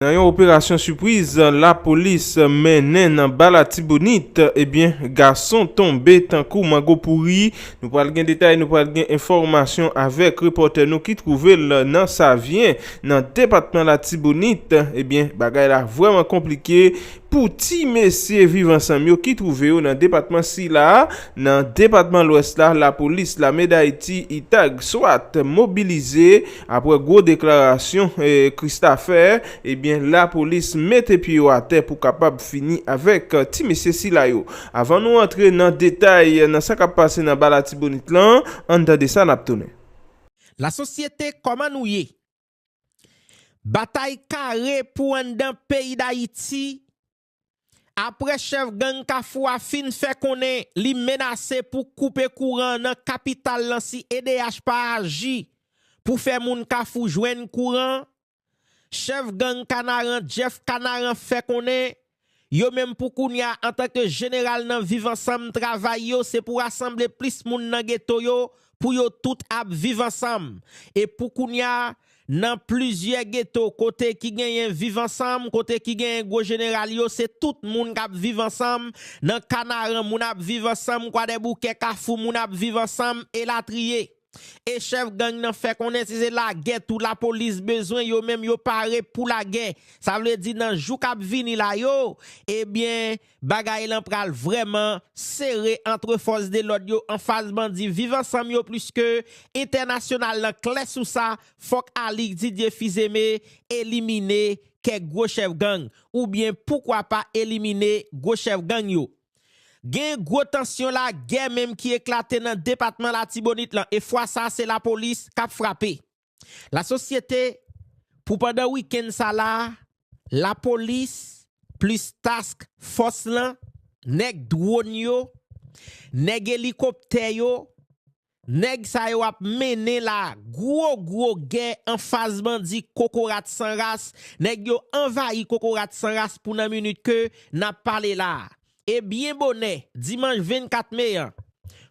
Nan yon operasyon sipriz lapolis mennen nan ba latibonit ebyen gason tonbe tankou mango pouri, nou pral gen detay nou pral gen enfòmasyon avèk repòtè nou ki twouve l nan savyen nan depatman latibonit ebyen bagay la vrèman konplike pou ti mesye viv ansanm yo ki twouve yo nan depatman sila a nan depatman lwès la lapolis lame dayiti itag swat mobilize Aprè gwo deklarasyon Christa fè, ebyen lapolis mete pye yo atè pou kapab fini avèk ti mesye sila yo. Avan nou antre nan detay nan sa kap pase nan ba latibonit lan, ann tande sa nap tounen. La sosyete kòman nou ye? Batay kare pou anndan peyi dayiti Aprè chèf gang Kafou a fin fè konnen li menase pou koupe kouran nan kapital lan si edh pa aji pou fè moun Kafou jwenn kouran, chèf gang Kanaran Jeff Kanaran fè konnen yo menm pou kounya antanke jeneral nan Viv Ansanm travay yo se pou rasanble plis moun nan geto yo pou yo tout ap viv ansanm e pou kounya nan plizyè geto kote ki genyen viv ansanm kote ki genyen gwo jeneral yo se tout moun k ap viv ansanm nan kanaran moun ap viv ansanm kwadèboukè kafou moun ap viv ansanm elatriye e chèf gang nan fè konnen si se lagè tou lapolis bezwen yo menm yo pare pou lagè sa vle di nan jou k ap vini la yo ebyen Bagay lan pral vrèman sere antre fòs de lòd yo anfas bandi viv ansanm yo pliske entènasyonal lan klè sou sa fòk Alix Didier Fils-Aimé elimine kèk gwo chèf gang oubyen poukwa pa elimine gwo chèf gang yo. Gen gwo tansyon la gè menm ki eklate nan depatman latibonit lan e fwa sa se lapolis kap frape. Lasosyete pou pandan wikenn sa la a, lapolis plis task fòs lan, nèg dwon yo, nèg elikoptè yo, nèg sa yo ap mennen la gwo gwo gè anfas bandi kokorat san ras, nèg yo anvayi kokorat san ras pou nan minit ke n ap pale la a. e byen bonè dimanch 24 me an,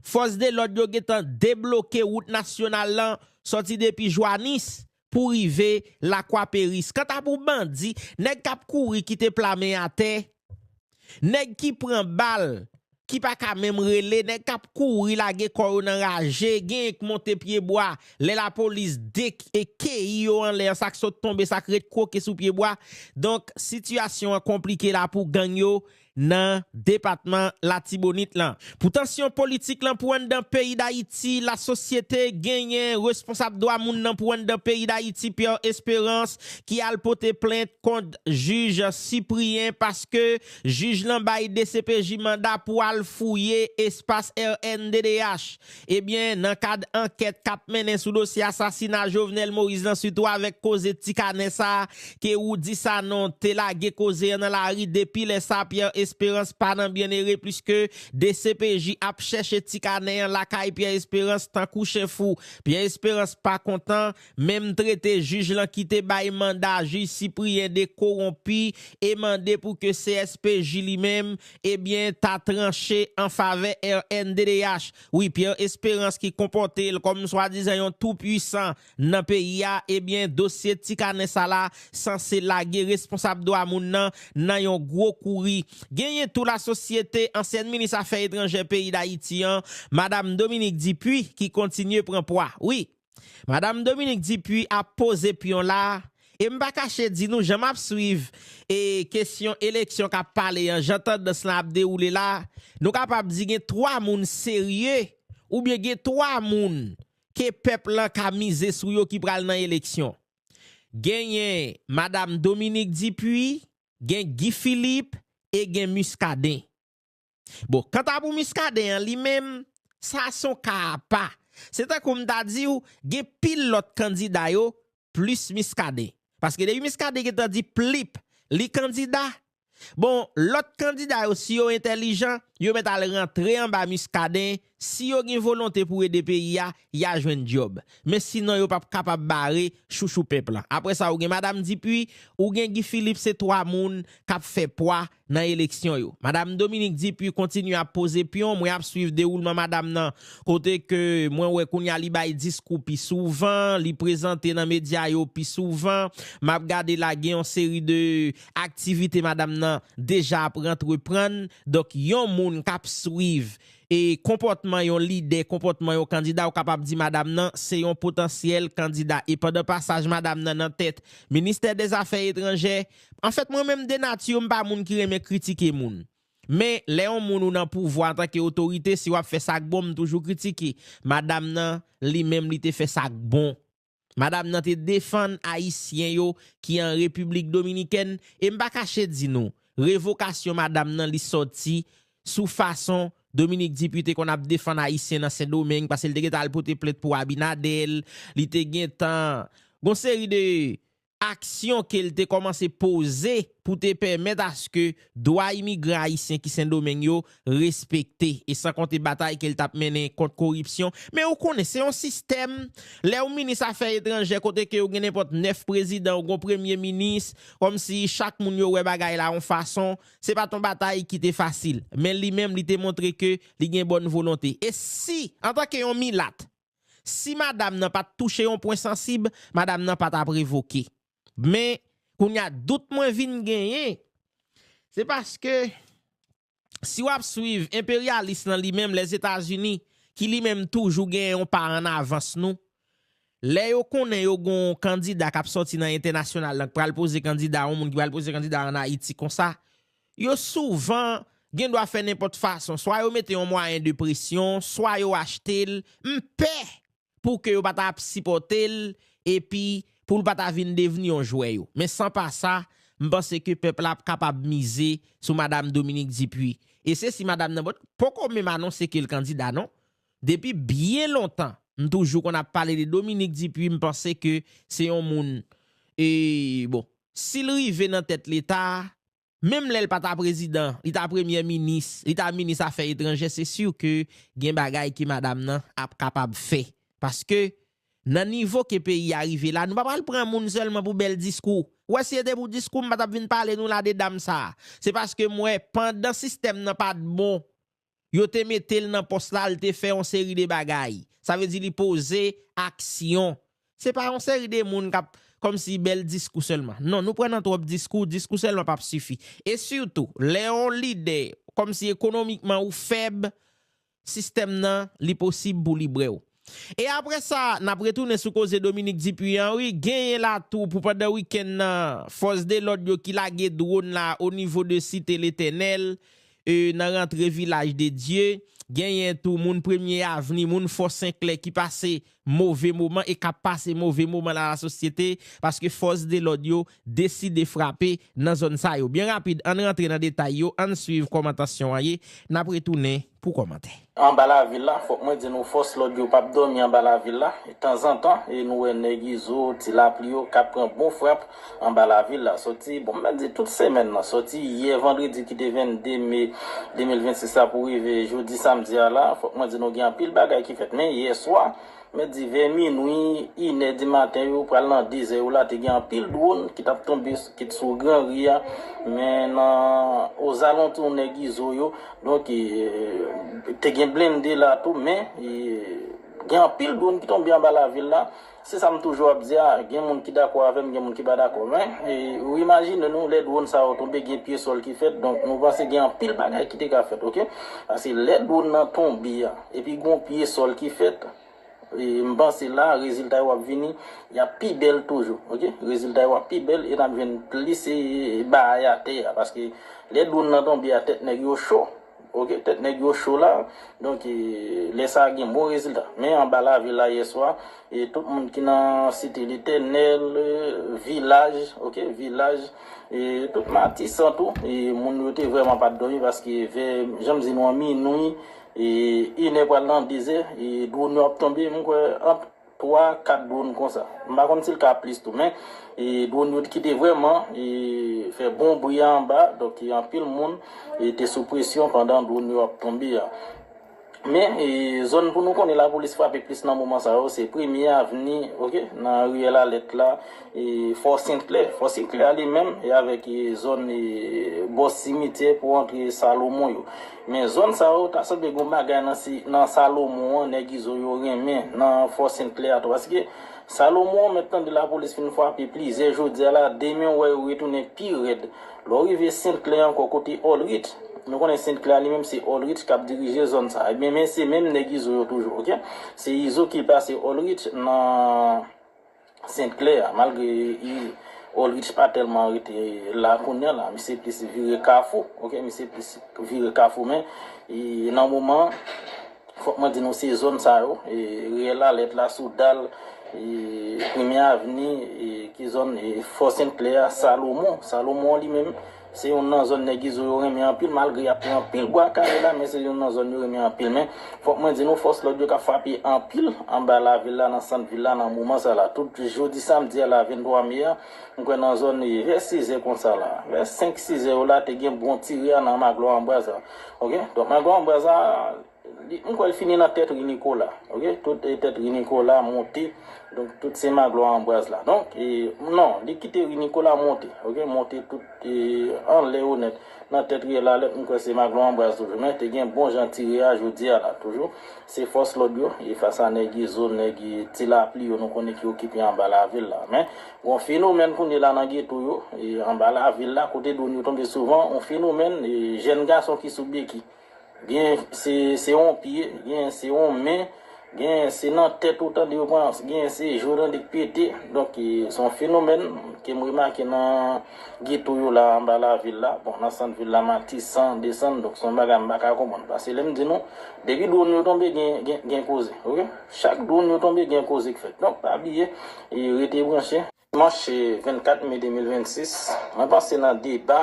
fòs de lòd yo gentan debloke wout nasyonal lan sòti depi Joanis pou rive Lakwa Peris. Kanta pou bandi, nèg k ap kouri kite pla men atè, nèg ki pran bal, ki pa ka menm rele, nèg k ap kouri lage kò yo nan raje, genyen k monte pyebwa lè lapolis dekeyi yo anlè an, sa k sot tonbe, sa k ret kwoke sou pyebwa. Donk, sitiyasyon an konplike la pou gang yo. nan depatman Latibonit lan. Pou tansyon politik lan pou anndan peyi Dayiti, lasosyete genyen responsab dwa moun nan pou anndan peyi Dayiti Pierre Esperance ki al pote plent kont jij Cyprien paske jij lan bay dcpj manda pou al fouye espas rnddh. Ebyen, nan kad ankèt k ap mennen sou dosye asasina Jovenel Moïse lan sitou avèk koze ti kanè sa ke Roudy Sanon te lage koze an nan lari depi lè sa Pierre Espérance pa nan Byennere pliske dcpj ap chèche ti kanè an lakay Pierre Espérance tankou chen fou Pierre Espérance pa kontan Menm trete jij lan ki te bay manda jij Cyprien de kowonpi e mande pou ke CSPJ li menm ebyen ta tranche an favè rnddh. Wi Pierre Esperance ki konpòte l kòm swadizan yon tou pwisan nan peyi a ebyen dosye ti kanè sa la sanse lage responsab dwa moun nan nan yon gwo kouri. Genyen tou lasosyete ansyèn minis afè etranjè peyi Dayiti an Madam Dominique Dupuy ki kontinye pran pwa. Wi. Madam Dominique Dupuy ap poze pyon la, e m pa kache di nou jan m ap swiv e kesyon eleksyon k ap pale an, jan tandans lan ap dewoule la, nou kapab di gen 3 moun serye oubyen gen 3 moun ke pèp lan ka mize sou yo ki pral nan eleksyon. Genyen Madam Dominique Dupuy, gen Guy Philippe e gen Muscadin. Bon, kanta pou Muscadin an li menm, sa se yon ka apa. Se tankou m ta di w, gen pil lòt kandida yo plis Muscadin. Paske depi Muscadin gentan di plip, li kandida, bon, lòt kandida yo si yo entèlijan, yo mèt al rantre anba Muscadin Si yo gen volonte pou ede peyi a, ya jwenn dyob. Men sinon yo pap kapab bare chouchou pèp lan. Apre sa ou gen madam Dipuy, ou gen Guy Philippe se 3 moun kap fè pwa nan eleksyon yo. Madam Dominique Dupuy kontinye ap poze pyon, mwen ap swiv dewoulman madam nan kote ke mwen wè kounya li bay diskou pi souvan, li prezante nan medya yo pi souvan. Map gade la gen yon seri de aktivite madam nan deja ap rantreprann. Donk yon moun kap swiv E konpòtman yon lidè, konpòtman yon kandida ou kapab di madam nan se yon potansyèl kandida. E pandan pasaj madam nan nan tèt ministè dè zafè etranjè, anfèt mwen menm de nature m pa moun ki renmen kritike moun. Men lè yon moun ou nan pouvwa antanke otorite si wap fè sak bon m toujou kritike. Madam nan li menm li te fè sak bon. Madam nan te defann Ayisyen yo ki an Repiblik Dominikèn e m pa kache di nou, revokasyon madam nan li sòti sou fason Dominique Dupuy te konn ap defann Ayisyen nan Sendomeng pase li te gentan al pote plent pou Abinader, li te gentan gon seri de aksyon ke l te kòmanse poze pou te pèmèt aske dwa imigran ayisyen ki Sendomeng yo respekte, e san konte batay ke l t ap mennen kont koripsyon. Men ou konnen, se yon sistèm, lè ou minis afè etranjè kote ke ou gen nenpòt 9 prezidan, ou gen yon premye minis, kòm si chak moun yo wè bagay la yon fason, se pa t yon batay ki te fasil. Men li menm li te montre ke li gen bòn volonte. E si, antanke yon milat, Si madam nan pat touche yon pwen sansib, madam nan pa tap revoke. Men, kounye a dout mwen vin genyen, se paske si w ap swiv enperyalis lan li menm Lèzetazini ki li menm toujou gen yon pa an avans nou, lè yo konnen yo gen yon kandida k ap sòti nan entènasyonal lan k pral poze kandida yon moun ki pral poze kandida an Ayiti konsa, Yo souvan gen dwa fè nenpòt fason, swa yo mete yon mwayen de presyon, swa yo achte l, m pè pou ke yo pa ta ap sipòte l epi pou l pa ta vin devni yon jwè yo. Men san pa sa, m panse ke pèp la ap kapab mize sou Madam Dominique Dupuy. E se si Madam nan poko menm anonse ke l kandida non. Depi byen lontan, m toujou konn ap pale de Dominique Dupuy, m panse ke se yon moun, e bon, si l rive nan tèt Leta, Menm lè l pa ta prezidan, li ta premyè minis, li ta minis afè etranjè se sur ke gen bagay ke madam nan ap kapab fè. Paske nan nivo ke peyi a rive la nou pa pral pran moun sèlman pou bèl diskou. Ou wè si e te pou diskou m pa t ap vin pale nou la de dam sa. Se paske m wè pandan sistèm nan pa t bon Yo te mete l nan pòs la, l te fè yon seri de bagay. Sa vle di li poze aksyon. Se pa yon seri de moun k ap kòm si bèl diskou sèlman. Non, nou pran nan twòp diskou, diskou sèlman p ap sifi. E sitou, lè yon lidè kòm si ekonomikman ou fèb, sistèm nan li posib pou li bre ou. E apre sa, n ap retounen sou koze Dominique Dupuy an wi, genyen la tou pou pandan wikenn nan, fòs de lòd yo ki lage dwon la o nivo de Site Letènèl, e nan rantre Vilaj de Dye, genyen tou moun Premye Avni, moun Fò Senklè ki pase move moman e k ap pase move moman nan lasosyete, paske fòs de lòd yo deside frape nan zòn sa yo. Byen rapid, ann rantre nan detay yo, ann swiv kòman tansyon an ye, n ap retounen. pou kòmantè. Anba lavil la fòk mwen di nou fòs lòd yo pap dòmi anba lavil la tanzantan e nou wè nèg izo ti lapli yo kap pran bon frap anba lavil la sòti bon m mèt di tout semèn nan sòti yè vandredi ki te 22 me 2026 la pou rive jodi samdi a la fòk mwen di nou gen anpil bagay ki fèt men yèswa Mèt di vè minwi, inè di maten yo pral nan dezè yo la te gen anpil dwon ki t ap tonbe kit sou gran ri a men nan ozalontou nèg izo yo donk te gen blende la tou men gen anpil dwon ki tonbe anba lavil la se sa m toujou ap di a gen moun ki dakò avè m gen moun ki pa dakò men ou imajine nou lè dwon sa yo tonbe gen pye sòl ki fèt donk nou panse gen anpil bagay ki te ka fèt ok paske lè dwon nan tonbe a. Epi gon pye sol ki fèt. M panse la rezilta yo ap vini yap pi bèl toujou ok rezilta yo ap pi bèl e nap jwenn plis baay atè a paske lè dwonn nan tonbe a tèt nèg yo cho ok tèt nèg yo cho la donk lè sa gen bon rezilta men anba lavil la yèswa e tout moun ki nan site letènèl vilaj ok vilaj e tout matisan tou e moun yo te vrèman pat dòmi paske vè janm di nou an minwi E inè pral nan dezè, e dwon yo ap tonbe, m kwè ant 3, 4 dwon konsa. M pa konn si l ka plis tou, men e dwon yo ki te vrèman e fè bon bri a anba, donk e anpil moun e te sou presyon pandan dwon yo ap tonbe a. Men e zòn pou nou konnen lapolis frape plis nan moman sa yo, se Premye Avni, ok, nan Riyèl Alèt la, E fò senklè, fò senklè a li menm e avèk e zòn e bò simityè pou antre salomon yo. Men zòn sa yo ta sanble gon bagay nan si nan salomon an nèg izo yo renmen nan fò senklè a tou paske salomon mèt tande lapolis fin fwape plizyè jodia la demen ou wè yo retounen pi rèd lè w rive senklè ankò kote olrit nou konnen senklè a li menm se olrit kap dirije zòn sa ebyen men se menm nèg izo yo toujou ok se izo ki pase olrit nan. St. Clair, malgre Olrich pa tèlman rete la kounya la, misye plis vire kafou, ok, misye plis vire kafou men nan moman an fòk mwen di nou se zòn sa yo, Riyèl Alèt la, Soudal, Premye Avni, ki zòn Fò St. Clair, Salomon, Salomon li menm Se youn nan zòn nèg izo yo renmen anpil malgre y ap pran anpil bwa kale la men se youn nan zòn yo renmen anpil men fòk mwen di nou fòs lòd yo k ap frape anpil anba lavil la nan sant vil la nan moman sa la tout jodi samdi a la 23 me a m kwè nan zòn vè sizè konsa la vè senk sizè yo la te gen bon tire a nan maglwa anbraz la ok donk maglwa anbraz la. M kwè l fini nan tèt ri Nikola ok tout tèt ri Nikola monte donk tout se Maglwa Anbraz la donk non li kite ri Nikola monte ok monte tout anlè yo nèt nan tèt riyèl Alèt m kwè se Maglwa Anbraz toujou men te gen bon jan ti ri a jodi a la toujou se fòs lòd yo e fas a nèg izo nèg ti lapli yo nou konnen ki okipe anba lavil la men gon fenomèn kounye la nan geto yo anba lavil la kote dwon yo tonbe souvan on fenomèn jèn gason ki sou beki. Genyen se se yon pye, genyen se yon men, genyen se nan tèt ou tande yo pran, genyen se je w tande k pete. Donk, se yon fenomèn ke m remake nan geto yo la anba lavil la. Bon, nan sant vil la, Matisan, desann. Donk, se yon bagay m pa ka konprann. Pase lè m di nou, depi dwonn yo tonbe gen, gen, gen koze. Ok? Chak dwonn yo tonbe gen koze k fèt. Donk, pa bliye, rete branche. Dimanche 24 me 2026, mwen panse nan deba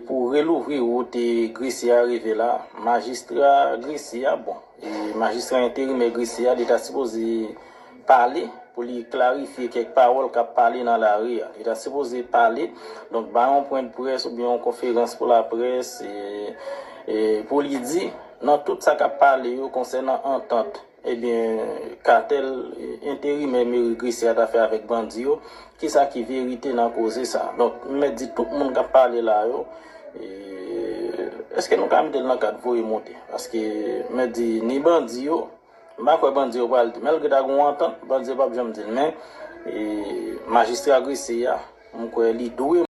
pou relouvri wout Gresye a rive la, majistra Gresye a, bon, majistra enterimè Gresye a, li ta sipoze pale pou li klarifye kèk pawòl k ap pale nan lari a. Li ta sipoze pale, donk bay yon pwen de près oubyen yon konferans pou laprès pou li di nan tout sa k ap pale yo konsènan antant. Ebyen katèl enterimè meri gresye a ta fè avèk bandi yo, kisa ki verite nan koze sa? Donk m mèt di tout moun kap pale la yo, eske nou ka mete l nan kad voye monte? Paske m mèt di ni bandi yo, m pa kwè bandi yo pral di, malgre ta gen yon antant, bandi yo pap janm di l men majistra gresye a m kwè li dwe.